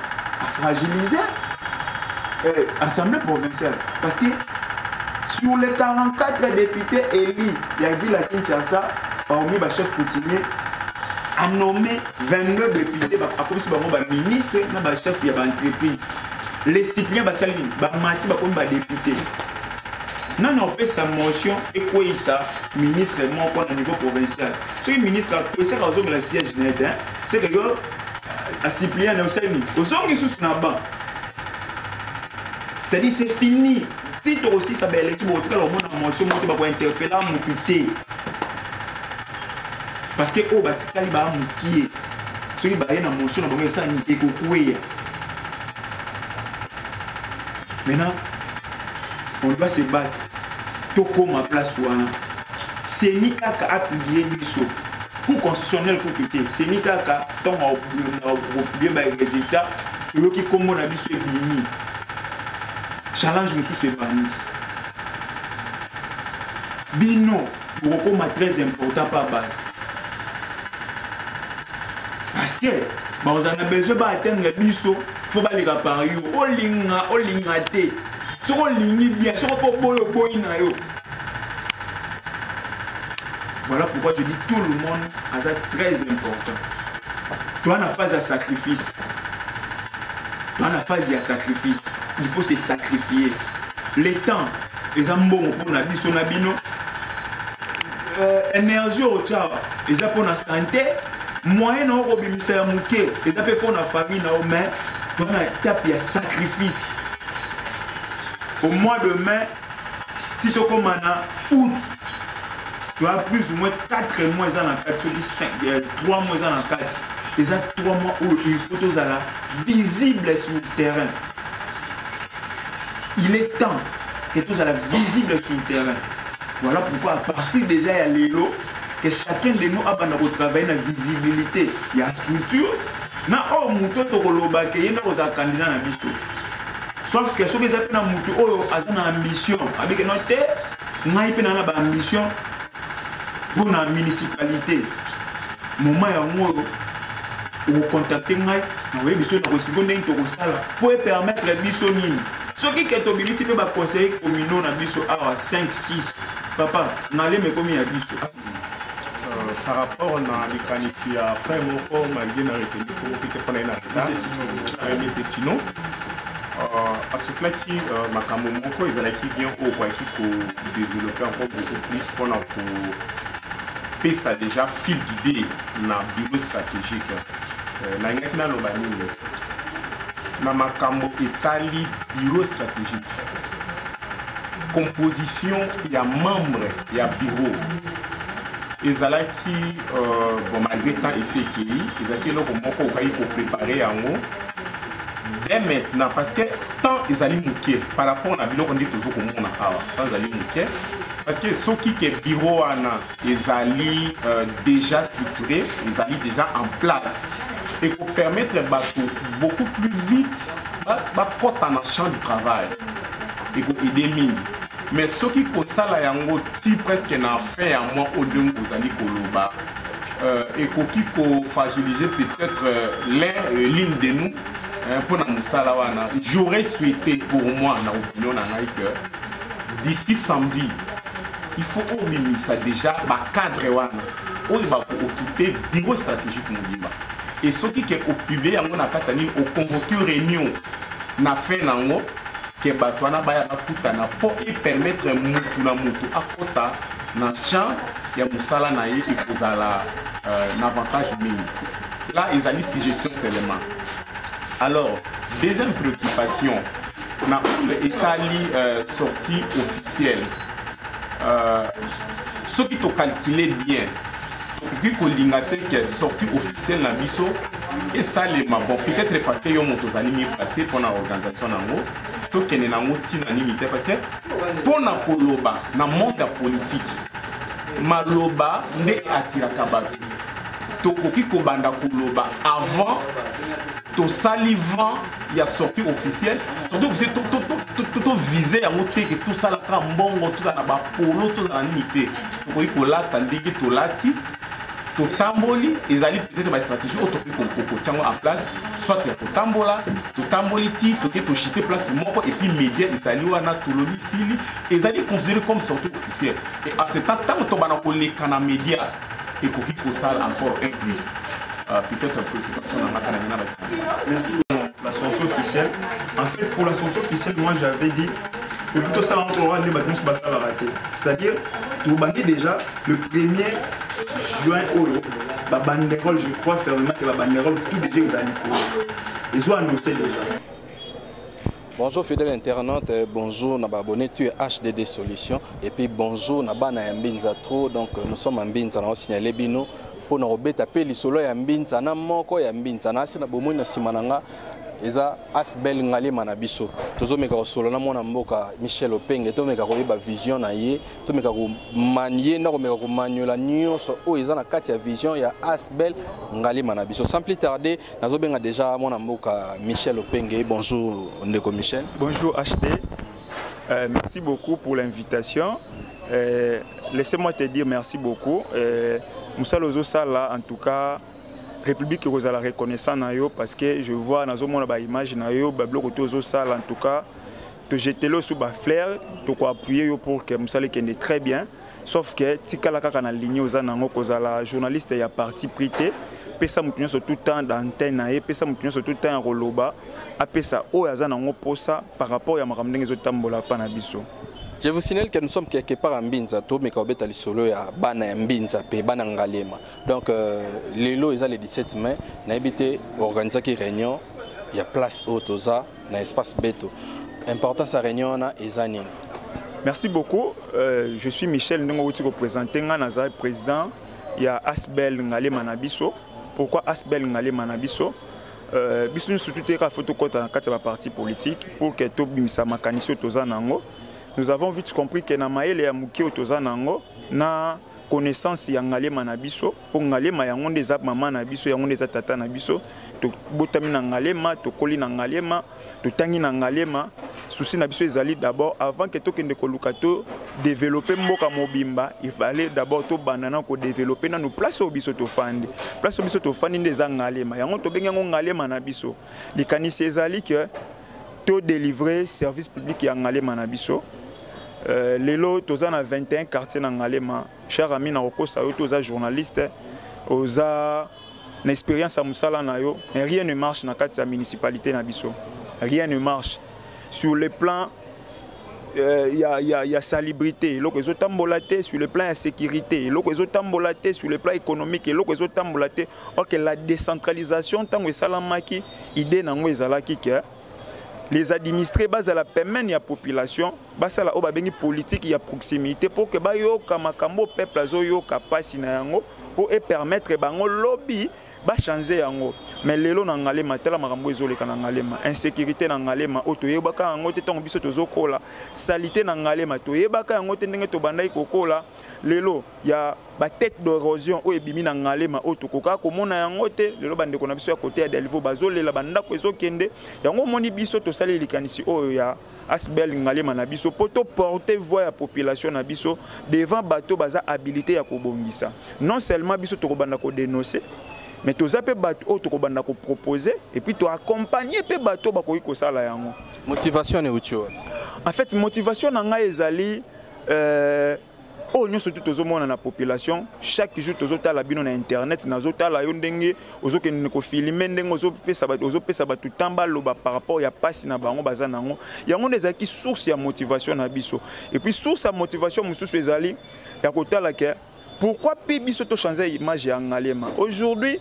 afragilise eh, assemblée provinciale parce que sur les 44 députés élus ya ville ya kinshasa parmi bachef coutumier anomme 22 députés akomisi bango baministre na bachef ya baentreprise les citoyens basali nini bamati bakomi badepute nano apesa motion ekweisa ministre moko na niveau provincial soki ministre akweisaka ozongela siège na ye te seke yo euh, asiplia na osali nini ozongi susu na ban c'est-à-dire c'est fini ti tokosisa baeleki bokotikala komona motion moko te bakointerpela motu te parce que oyo batikali baa mokie soki baye na motion na bango esani ekokweya maintenant on doit se battre tokoma place wana seni kaka apiblie biso cour constitutionnel kutu te seni kaka ntongo akopiblie baresultat oyoki nkombo na biso ebimi challenge mosusu ebandi bino bokokoma très important mpa bato parce que bakozala na besoin baatteindre biso fo baleka par yo olinga olinga te soki olingi bien soki mpo oboyi oboyi na yo voilà pourquoi je dis tout le monde aza très important toa na phase ya sacrifice toa na phase ya sacrifice il faut se sacrifier le temps eza mbongo mpona biso na bino euh, energie otya eza mpona sante moyen na yo kobimisa ya moke eza mpe mpona famille na yo mai toza na etape ya sacrifice au mois de mai ti tokóma na août toya plus ou moins 4 mois eza na kati soki 3 euh, mois eza na kati eza 3 mois oyo il faut tozala visible sur terrain il est temps que tozala visible sur terrain voilà pourquoi à partir déjà ya lelo que chacun de nous abanda kotravaille na visibilité ya structure na oyo moto tokoloba ke ye nde akozala kandida na biso sauf ke soki eza mpe na moto oyo aza na ambition abike no te ngai mpe naa na baambition mpo na municipalité moma yango oyo okokontakte ngai nakoyebi biso nakoexplike ndenge tokosala mpo epermettre biso nini soki ke tobimisi mpe baconseiller communaux na biso awa 5 6 papa ngalema ekomi ya biso euh, par rapport na likanisi ya frère moko malgre na retenir komokite mpo na ye na Tino euh, asuflaki euh, makambo moko ezalaki bien oyo okoki kodevelope yango beaucoup plus mpona kopesa déjà fil d'idée na bureau stratégique euh, nalingaki naloba nini na makambo etali bureau stratégique composition ya membre ya bureau ezalaki ki euh, bon malgré temps esi ekei ezalaki eloko moko okaki koprepare yango dès maintenant parce que temps ezali moke par rapport na biloko nde tozo komona awa temps ezali moke parce que soki ke bureau wana ezali euh, déjà structuré ezali déjà en place et pour permettre bato beaucoup plus vite bakɔta na champ du travail ekoaide mingi mais soki kosala yango ti presque na fin ya mwa oyo ndenge ozali koloba euh, ekoki kofragiliser peut-être euh, l'un euh, l'une de nous mpo na mosala wana j'aurais souhaité pour moi na opinion na ngai que d'ici samedi il faut obimisa déjà bacadre wana oyo bakookipe bureau stratégique mobimba e soki ke opublie yango na kata nini oconvoque réunion na fin na yango que bato wana baya bakutana mpo epermettre mutu na mutu akota na champ ya mosala na ye ekozala euh, na avantage mingi là ezali suggestion seulement alors deuxième préoccupation na oyo etali euh, sortie officielle euh, soki tocalcule bien Tokoki kolinga te que sortie officielle na biso esalema bon peut-être parce que yo moto ozali mieux placé mpo na organisation na yango tokende na yango ntina nini te parce que mpo na koloba na monde ya politiki maloba nde atiraka bato tokoki kobanda koloba avant tosali vent ya sortie officielle sortie officielle tovise yango te ke tosalaka mbongo tozala na bapolo tozala nini te tokoki kolata ndenge tolati totamboli ezali peut-être bastratégie oyo tokoki kokotya yango en place soit ya kotambola totamboli ti toke toshite place moko epuis média ezali wana tolobi sili ezali considéré comme sorti officielle et en ce temps ntango tobana koleka na média ekoki kosala encore un plus euh, peut-être préoccupation na ngaka na ngai na bakisa merci la sortie officielle en fait pour la sortie officielle moi j'avais dit epuis tosala mpo wana nde bato nyonso basalaka te c'est-à-dire tobandi déjà le premier juin oyo babanderole je crois fermement ke babanderole tout déjà ezali likolo ezo annonce déjà Bonjour fidèle internaute, euh, bonjour na abonné, tu es HDD Solution et puis bonjour na bana ya Mbinza trop donc euh, nous sommes en Mbinza na signaler bino mpo na kobeta mpe lisolo ya mbinza na moko ya mbinza na asi na bomoi na nsima na nga eza asbel ngalema na biso tozomeka kosolo na mwana mboka michel openge tomeka koyeba vision na ye tomeka komanie na komeka komaniola nyonso oyo eza na kati ya vision ya asbel ngalema na biso sans plus tarder nazobenga deja mwana mboka michel openge bonjour ndeko michel bonjour hd euh, merci beaucoup pour l'invitation euh, laissez moi te dire merci beaucoup euh, mosala ozosala en tout cas République ekozala reconnaissant na yo parce que je vois nazomona ba image na yo ba biloko to ozosala en tout cas tojetele osu ba flair tokoappuye yo pour que mosala ekende très bien sauf que tikala kaka na ligne oza nango kozala journaliste ya parti pris te pesa moto nyonso tout temps d'antenne na ye pesa moto nyonso tout temps ya koloba apesa oyo aza nango mposa par rapport ya makambo ndenge ezotambola mpa na biso Je vous signale que nous sommes quelque part à Mbinza, to meka obeta lisolo ya bana ya Mbinza pe bana Ngalema. donc euh, lelo eza le 17 mai nayebi te organisaki réunion ya place oyo toza na espace beto importance ya réunion wana eza nini merci beaucoup euh, je suis michel ndenge outi kopresente ngai nazali président ya asbel ngalema na biso pourquoi asbel ngalema na biso euh, biso nyonso tuteka fo tokɔta na kati ya baparti politique pour ke tobimisa makanisi oyo toza na yango nous avons vite compris ke na mayele ya moke oyo toza na yango na connaissance ya ngalema na biso mpo ngalema yango nde eza mama na biso yango nde eza tata na biso tobotami na ngalema tokoli na ngalema totangi na ngalema souci na biso ezali d'abord avant ke tokende koluka to développer mboka mobimba il fallait d'abord tobanda na kodeveloppe nanu place oyo biso tofandi place oyo biso tofandi nde eza ngalema yango tobengi yango ngalema na biso likanisi ezali ke to délivrer service public ya ngalema na biso euh, lelo toza na 21 quartier na ngalema cher ami na kokosa yo toza journaliste oza na expérience ya mosala na yo mais rien ne marche na kati ya municipalité na biso rien ne marche sur le plan euh, ya, ya, ya salubrité eloko ezotambola te sur le plan ya sécurité eloko ezotambola te sur le plan économique eloko ezotambola te orke la décentralisation ntango esalamaki idee na yango ezalaki ke les administrés bazala pembeni ya population basala oyo babengi politike ya proximité mpo ke bayoka makambo oyo peuple azoyoka mpasi na yango mpo epermettre bango lobi bachange yango mais lelo na ngalema tala makambo ezoleka na ngalema insécurité na ngalema oyo toyebaka yango te ntango biso tozokola salite na ngalema toyebaka yango te ndenge tobandaki kokola lelo ya ba tête d'erosion oyo ebimi na ngalema oyo tokokaka komona yango te lelo bandeko na biso ya kote ya delvo bazolela bandako ezokende yango omoni biso tosali likanisi oyo ya asbel ngalema na biso mpo toporte voi ya population na biso devant bato baza habilité ya kobongisa non seulement biso tokobanda kodenonse mais toza mpe bato oyo tokobanda kopropose epuis toaccompagne mpe bato bakoki kosala yango motivation euti en fait motivation na ngai ezali euh, oyo nyonso tu tozomona na population chaque jour tozotala bino na internet nazotala yo ndenge ozokende kofilme ndenge ozopesa bato ntan baloba par rapport ya mpasi na bango baza na yango yango nde ezalaki source ya motivation na biso epuis source ya motivation mosusu ezali ya kotala ke pourquoi mpe biso tochange image ya ngaliema aujourd'hui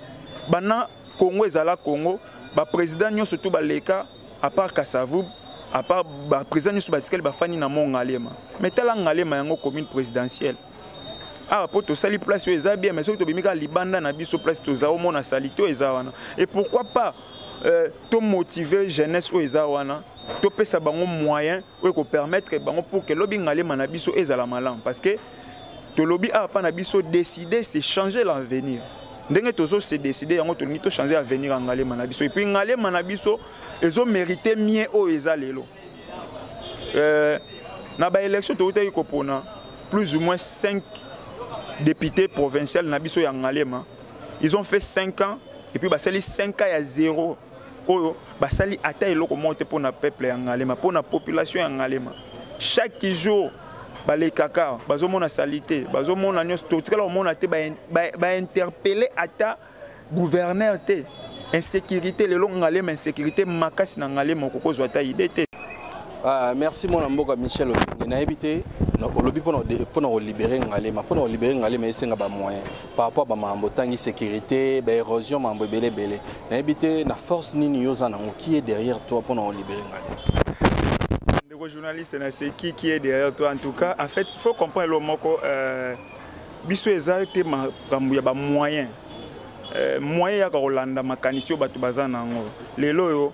bana Congo ezala Congo, ba président nyoso tout ba leka à part Kassavub, à part ba président nyoso ba tikali ba fani na mon Ngalema. Mais tala Ngalema yango commune présidentielle. awa ah, mpo tosali place oyo eza bien mais soki tobimi kaka libanda na biso place toza omona salite oyo eza wana et pourquoi pas euh, tomotive jeunesse oyo eza wana topesa bango moyen oyo ko permettre bango pour que lobi ngalema na biso ezala malamu parce que tolobi awa mpa na biso décider c'est changer l'avenir ndenge tozo se décider yango tolingi to changer avenir ya ngalema na biso epuis ngalema na biso ezo mérite mie oyo eza lelo euh, na baélection toutaki kopona plus ou moins 5 députés provinciales na biso ya ngalema ils ont fait 5 ans epuis basali 5 ans ya 0 oyo basali ata eloko moko te pona peuple ya ngalema pona population ya ngalema chaque jour balekaka bazomona salite bazomona nyonso totikala komona te bainterpele ba, ba ata gouverneur te insécurité lelo ngalema insécurité makasi na ngalema okoki kozwa ata ide te ah, merci mwana mboka michel okenge nayebi te olobi mpona kolibere ngalema mpona kolibere ngalema esenga bamoyen par rapport ba mambo otangi sécurité ba érosion mambo ebele ebele nayebi te na force nini yo oza nango qui est derrière toi mpona olibere ngai ndeko journaliste na seki qui est derrière toi en tout cas en fait il faut comprendre elo moko euh, biso eza te makambo ya bamoyen euh, moyen yaka kolanda makanisi oyo bato baza na yango lelo oyo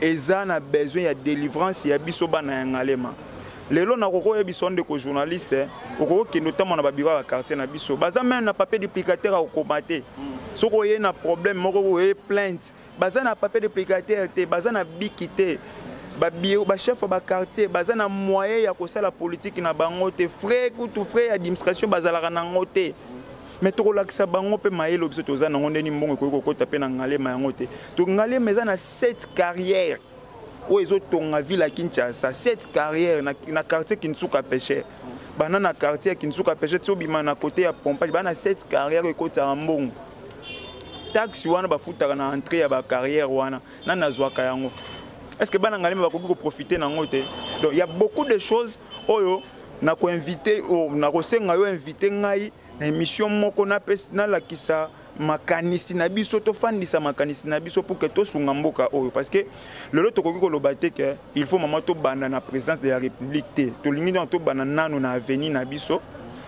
eza na besoin ya délivrance ya biso bana ya ngalema lelo nakoki oyebisa ndeko journaliste okoki okende otambwa na babiro ya bakartier na biso baza meme na papier duplicateur ya kokoma te soki oye na problème moko oye plainte baza na papier duplicateur te baza na biki te bachef ya bakartier baza na moyen ya kosala politike na bango te frais kutu frais ya administration bazalaka na yango te mais tokolakisa bango mpe mayele biso toza nango ndeni mbongo ekoki kokota mpe na ngalema yango te to ngalema eza na 7 carrière oyo ezotonga ville ya kinshasa 7 carrière na, na quartier kinsuka pêcheur bana na quartier ya kinsuka pêcheur ti obima na kote ya pompage bana 7 carrière oyo ekotisaka mbongo taxe wana bafutaka na entrée ya bacarrière wana nani azwaka yango est ce que bana ngalema bakoki koprofite na yango te donc ya beaucoup de choses oyo na ko inviter oh, na ko senga yo inviter ngai na émission moko na pes na lakisa makanisi na biso tofandisa makanisi na biso pour que tosunga mboka oyo parce que lelo tokoki koloba te ke il faut mama tobanda na présidence de la république te tolingi nano tobanda nano na avenue na biso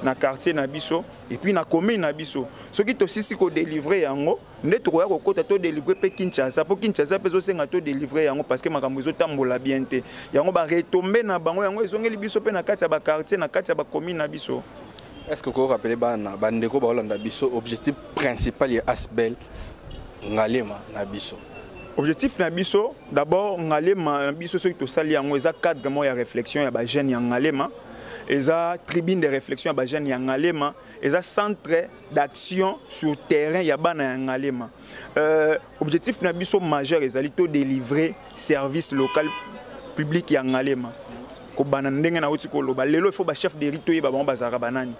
na quartier na biso epuis na commune na biso soki tosisi kodelivre yango nde tokoya kokota to délivrer mpe kinshasa mpo kinshasa mpe ezosenga to délivrer yango parce que makambo ezotambola bien te yango baretombe na bango yango ezongeli biso mpe na kati ya baquartier na kati ya bacommune na biso est ce que okoki rappeler bana bandeko baolanda biso objectif principal ya asbel ngalema na biso objectif na biso d'abord ngalema na biso soki tosali yango eza cadre moko ya réflexion ya bajeune ya ngalema eza tribune de réflexion ya bajeune ya ngalema eza centre d'action sur terrain ya bana ya ngalema euh, objectif na biso majeur ezali to délivrer service local public ya ngalema kobanda ndenge nauti koloba lelo ifo bachef de rite toyeba bango bazalaka banani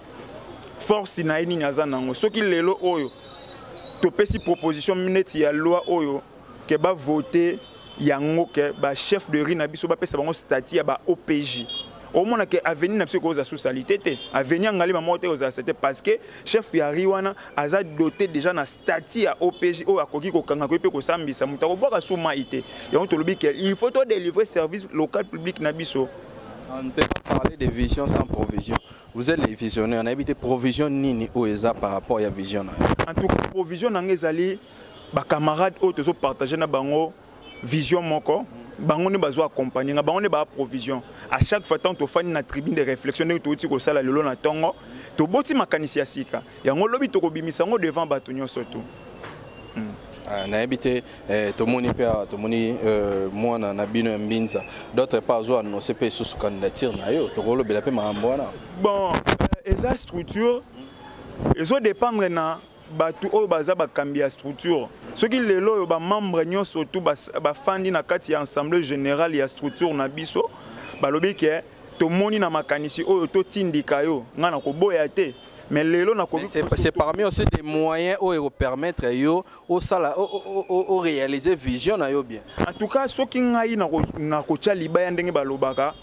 force na ye nini aza nango soki lelo oyo topesi proposition neti ya loi oyo que ba voter yango que ba chef de rue na biso bapesa bango statut ya ba OPJ omona ke avenir na biso ekozala sous salite te avenir ngalima moko te ekozala sete parce que chef ya ri wana aza doté déjà na statut ya opg oyo akoki kokanga koyi mpe kosambisa moto akobwaka sous mai te yango tolobi ke il faut to délivrer service local public na biso On ne peut pas parler de vision sans provision. Vous êtes les visionnaires. On a évité provision nini ou eza par rapport à la vision. En tout cas, provision n'angezali ba camarades oyo tozo partager na bango vision moko bango nde bazo accompagne nga bango nde ba provision à chaque fois tant tofandi na tribune de réflexion ndenge touti kosala lelo na ntongo toboti makanisi ya sika yango lobi tokobimisa yango devant bato nyonso tu hmm. ah, nayebi te eh, tomoni mpe awa tomoni eh, mwana na bino ya mbinza d'autre part azwa annonce mpe lisusu candidature na yo tokolobela mpe makambo wana bon eh, eza structure ezo dépendre na bato oyo baza bakambi ya structure soki lelo oyo bamembre nyonso tu bafandi na kati ya assemblée générale ya structure na biso balobi ke tomoni na makanisi oyo totindika yo ngai nakoboya te mais lelo nakoki c'est parmi aussi des moyens oyo ekopermettre yo osala oréalise vision na yo bien en tout cas soki ngai nakotya libaya ndenge balobaka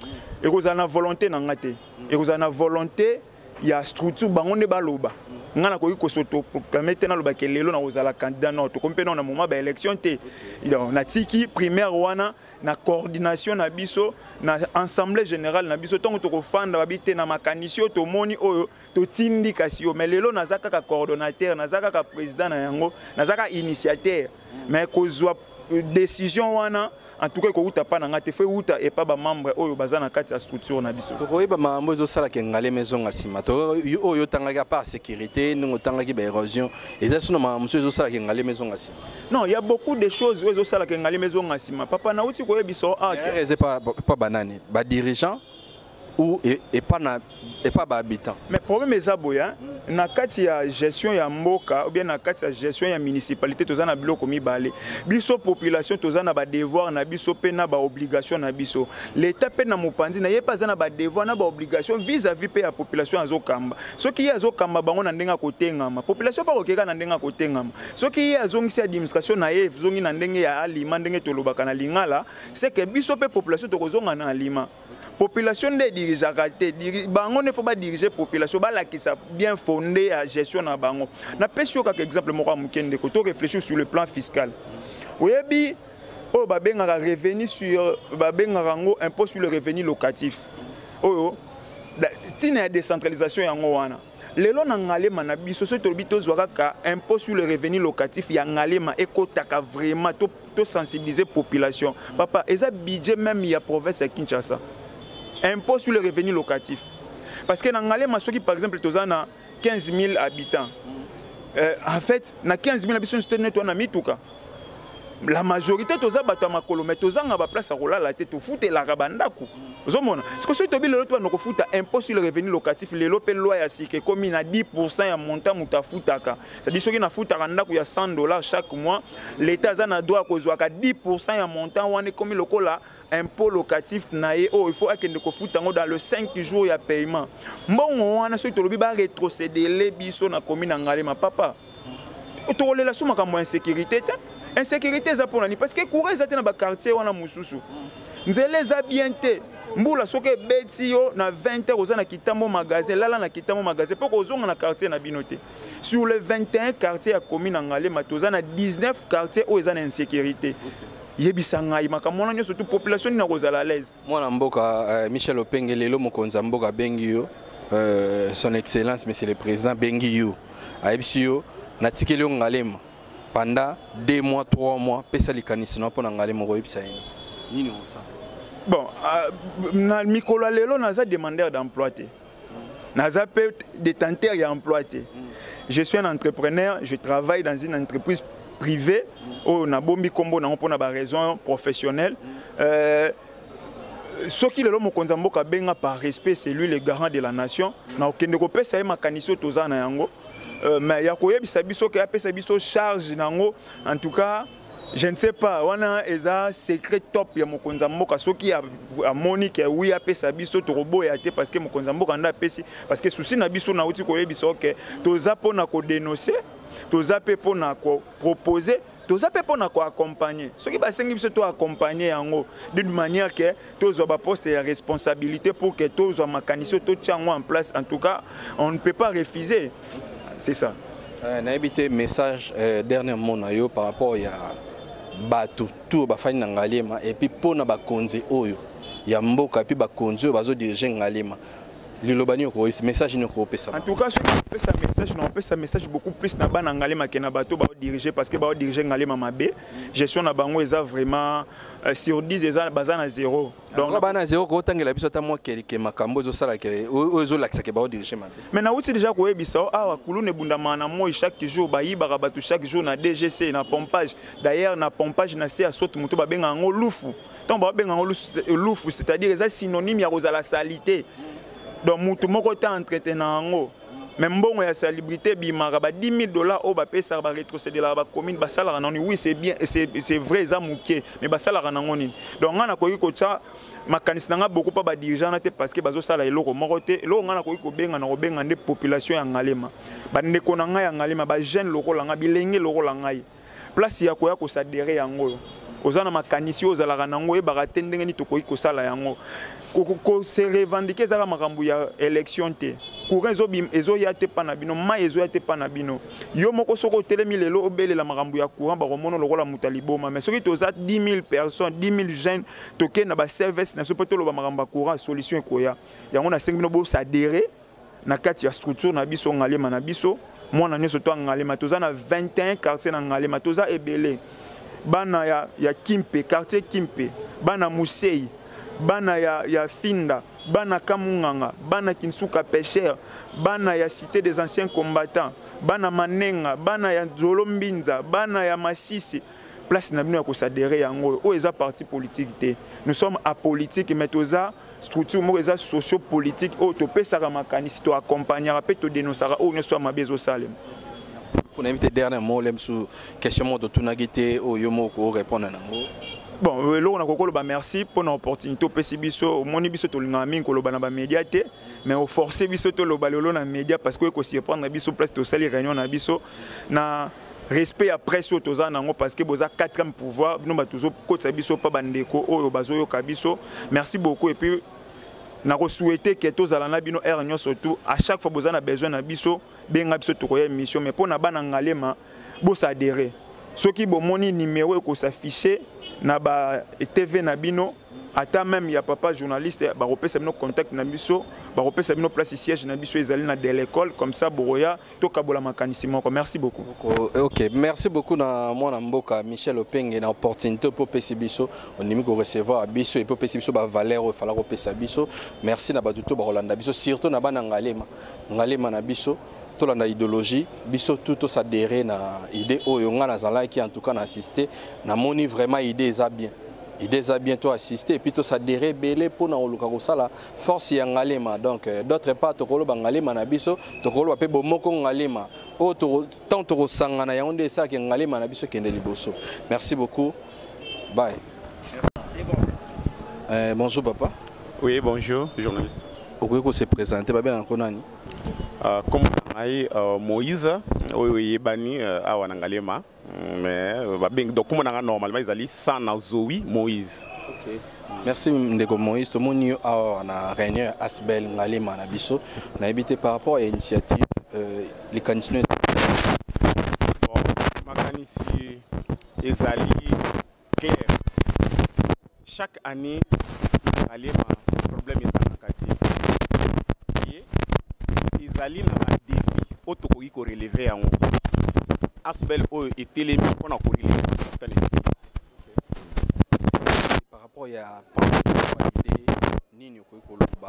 ekozala na volonté na ngai te ekozala na volonté ya structure bango nde baloba ngai nakoki kosotoproclame te nalobake lelo nakozala candidat nao tokomi mpe nao na moment baélection te donc natiki primaire wana na coordination na biso na assemblée générale na biso ntango tokofanda babi te na makanisi oyo tomoni oyo totindi kasi yo mai lelo naza kaka coordonnateur naza kaka président na yango naza kaka initiateur mai kozwa euh, décision wana en tout cas ekowuta pa na ngai te fo ewuta epa bamembre oyo baza na kati ya structure na biso tokoyeba makambo ezosalaka engalema ezonga nsima oyo otangaki apart sécurité ndenge otangaki baérosion eza sino makambo mosusu ezosalaka engalema ezonga nsima non ya beaucoup de choses oyo ezosalaka engalema ezonga nsima papa nauti koyebisa oyo ah, eze pa banani badirigeant ou epa na epa ba habitants mais problème eza boye hein? na kati ya gestion ya mboka ou bien na kati ya gestion ya municipalité toza na biloko mibale biso population toza na ba devoir na biso pe na ba obligation na biso l'état pe na mopanzi na ye pe aza na ba devoir na ba obligation vis à vis pe ya population azokamba soki ye azokamba bango na ndenge akotengama population pa kokeka na ndenge akotengama soki ye azongisi administration na ye ezongi na ndenge ya alima ndenge tolobaka na lingala c'est que biso pe population tokozonga na alima population nde edirigeaka te bango nde fo badirige population balakisa bien fonde ya gestion na bango napesi yo kaka exemple moko ya moke ndeko to réfléchir sur le plan fiscal oyebi oyo babengaka revenu sur babengaka yango impôt sur le revenu locatif oyo ntina ya décentralisation yango wana lelo na ngalema na biso soki tolobi tozwa kaka impôt sur le revenu locatif ya ngalema ekotaka vraiment tosensibilize to population papa eza budget même ya province ya kinshasa impôt sur le revenu locatif parce que na ngalema soki par exemple toza na 15 000 habitants euh, en fait na 15 000 biso nyonso te neti wana mituka la majorité toza bato ya makolo mai tozanga baplace ya kolala te tofutelaka bandako ozomona siko soki tobi lelo tobanda kofuta impôt sur le revenu locatif lelo mpe loi ya sika ekomi na 10 pourcent ya montant moto afutaka cetadi soki nafutaka ndako ya 100 dollar chaque mois l'état aza na droit ya kozwaka 10 pourcent ya montant wana ekomi lokola impôt locatif na ye oyo oh, il faut akende kofuta yango dans le 5 jours ya paiement mbongo wana soki tolobi baretrocedele biso na komi na ngalema papa tokolela so makambo ya insécurité te insécurité eza mpo na nini parce que courant eza te na baquartier wana mosusu nzela eza bien te mbula soki ebeti yo na 20 heure oza na kitambo magasin lala na kitambo magasin mpo kozonga na quartier na bino te sur le 21 quartier ya commune ya ngalema toza na 19 quartier oyo eza na insécurité yebisa ngai makambo wana nyonso tu population nini akozala alaise mwana mboka euh, michel openge lelo mokonzi ya mboka abengi yo euh, son excellence monsieur le président abengi yo ayebisi yo natikeli yo ngalema pendant 2 mois 3 mois pesa likanisi na mpo na ngalema okoyebisa ye nini osala bon euh, na mikolo ya lelo naza demandeur d'emploi te naza mpe détenteur ya emploi te je suis un entrepreneur je travaille dans une entreprise privée oyo nabombi nkombo nango mpo na baraison professionnelle euh, soki lelo mokonzi ya mboka abenga par respect c'est lui le garant de la nation nakokende kopesa ye makanisi oyo toza na yango euh, mais ya koyebisa biso ke apesa biso charge na yango En tout cas, je ne sais pas wana eza secret top ya mokonzi ya mboka soki amoni ke wi apesa biso tokoboya te parce que mokonzi ya mboka nde apesi parce que souci na biso nauti koyebisa oke toza mpona kodenonce toza mpe mpona kopropose toza mpe mpona koaccompagne soki basengi biso toaccompagne yango d'une manière ke tozwa ba poste ya responsabilité pour que tozwa makanisi oyo totya yango en place en tout cas on ne peut pas refuser c'est ça euh, nayebi te message euh, dernier mot na yo par rapport ya bato tour bafandi na ngaliema epuis mpo na bakonzi oyo ya mboka epuis bakonzi oyo bazodirige ngaliema liloba nini okoyisa message nini okopesa en tout cas soki opesa message na opesa message beaucoup plus na bana ngalema ke na bato baodirige parce que baodirige ngalema mabe gestion na bango eza vraiment Euh, sur 10 eza baza na zero ah, donc bana na zero kotangela biso ata mwa kelike makambo ezosala ke oyo ezolakisa ke baodirige mabe me nauti deja koyebisa o awa kuluna ebundamaka na moi chaque jour bayibaka bato chaque jour na dgc na pompage d'ailleurs na pompage na se ya sote moto babenga yango lufu ntango babenga yango lufu c'est-à-dire eza synonyme ya kozala salite donc moto moko te entretena yango me mbongo ya salubrité ebimaka ba 10 000 dollars oyo bapesaka baretrocedelaka bacommune basalaka nango nini oui c'est bien c'est vrai eza moke mais basalaka nango nini donc ngai nakoki kotya makanisi na ngai boko mpa badirigent na te parce que bazosala eloko moko te eloko ngai nakoki kobenga na kobenga nde population ya ngalema bandeko na ngai ya ngalema bajeune lokola ngai bilenge lokola ngai place ya koya kosadere yango oyo oza na makanisi oyo ozalaka nango oyebaka te ndenge nini tokoki kosala yango kose revendike ezaka makambo ya élection te courant ezoya te mpa na bino mai ezoya te mpa na bino yo moko soki otelemi lelo obelela makambo ya courant bakomona lokola moto ya liboma mais soki toza 10 000 personnes 10 000 jeunes tokei na baservice na biso mpo toloba makambo ya courant solution ekoya yango nasengi bino bosadere na kati ya structure na biso ngalema na biso mwana nyonso to ngalema toza na 21 quartier na ngalema toza ebele bana ya, ya kimpe quartier kimpe bana musei bana ya, ya finda bana kamunganga bana kinsuka pêcheur bana ya cité des anciens combattants bana manenga bana ya zolo mbinza bana ya masisi place na bino ya kosadere yango oyo oyo eza parti politique te nous sommes apolitique mais toza structure moko eza sociopolitique oyo topesaka makanisi toaccompagnaka mpe todenoncaka oyo nyonso ya mabe ezosalema kuna yebi te dernier mot le mosusu question moko totunaki te oyo yo moko orépondre nango bon eloko nakoki koloba merci mpo na opportunité opesi biso omoni biso tolingaka mingi koloba na bamédia te mais oforce biso toloba lelo na média parce que oye kosurprendre biso place tosali réunion na biso na respect ya presse oyo toza nango parce que boza quatrième pouvoir bino bato tozokotisa biso mpa bandeko oyo bazoyoka biso merci beaucoup et puis nakosouhaite ke tozala na bino heure nyonso tout à chaque fois boza na besoin na biso benga biso tokoya émission mais mpo na bana ngalema bosadere soki bomoni numéro ekosaffiche na ba tv na bino ata meme ya papa journaliste bakopesa bino contact na biso bakopesa bino place siège na biso ezali na de l'école comme ça bokoya tokabola makanisi moko merci beaucoup ok merci beaucoup na mwana mboka michel openge na opportunité mpo opesi biso ondimi korecevoir biso epe opesi biso bavaleur oyo efala kopesa biso merci na bato to bakolanda biso surtout na bana ngalema ngalema na biso tolanda idéologie biso tout tosadere na idée oyo ngai nazalaki en tout cas na assiste namoni vraiment idée eza bien idée eza bien to assiste epuis tosadere ebele mpo na koluka kosala force ya ngalema donc euh, d'autre part tokoloba ngalema na biso tokoloba mpe bomoko ngalema oyo oh, ntango tokosangana yango nde esalaka ngalema na biso ekende liboso merci beaucoup bye euh, bonjour papa oui bonjour journaliste okoki kose présente babengaka nko nani nkombo euh, na ngai moïse oyo eyebani awa na ngalema Mm, mais euh, babengi donc kombo na nga normalement ezali sana zowi moïse okay. merci ndeko moïse tomoni yo awa na réunion ya asbel ngalema na biso nayebi te par rapport ya initiative euh, likanisi no makanisi ezali clair chaque année na ngaliema problème ezalaka te ye ezali na badefi oyo tokoki koreleve yango asbel oyo etelemi mpo na koreleve par rapport ya nini okoki koloba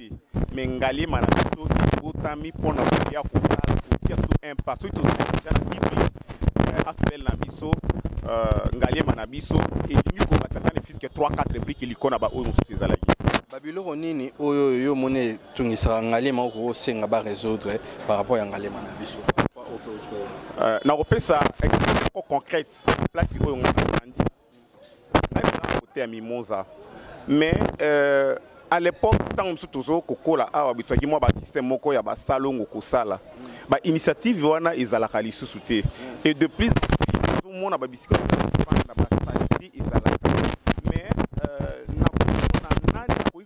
te me ngaliema na biso ebotami mpo na koya kosala kotia so impa soki tozali deja na biblia eh, asbel na biso eh, ngaliema na biso elingi kobata dans le fiske 3 4 briki likona baoyo mosusu ezalaki babiloko nini oyo yo omoni etungisaka ngaliema okoki osenga baresoudre par rapport ya ngaliema na biso eh, nakopesa exemple moko concrète place oyo ngai nandi kote ya mimoza mais euh, à l'époque ntango mosusu tozo kokola awa bitwaki mwa basystème moko ya basalongo kosala bainitiative wana ezalaka lisusu te et de plus tozomona babisika na basalite ezalaka mais euh, nakomona nani akoki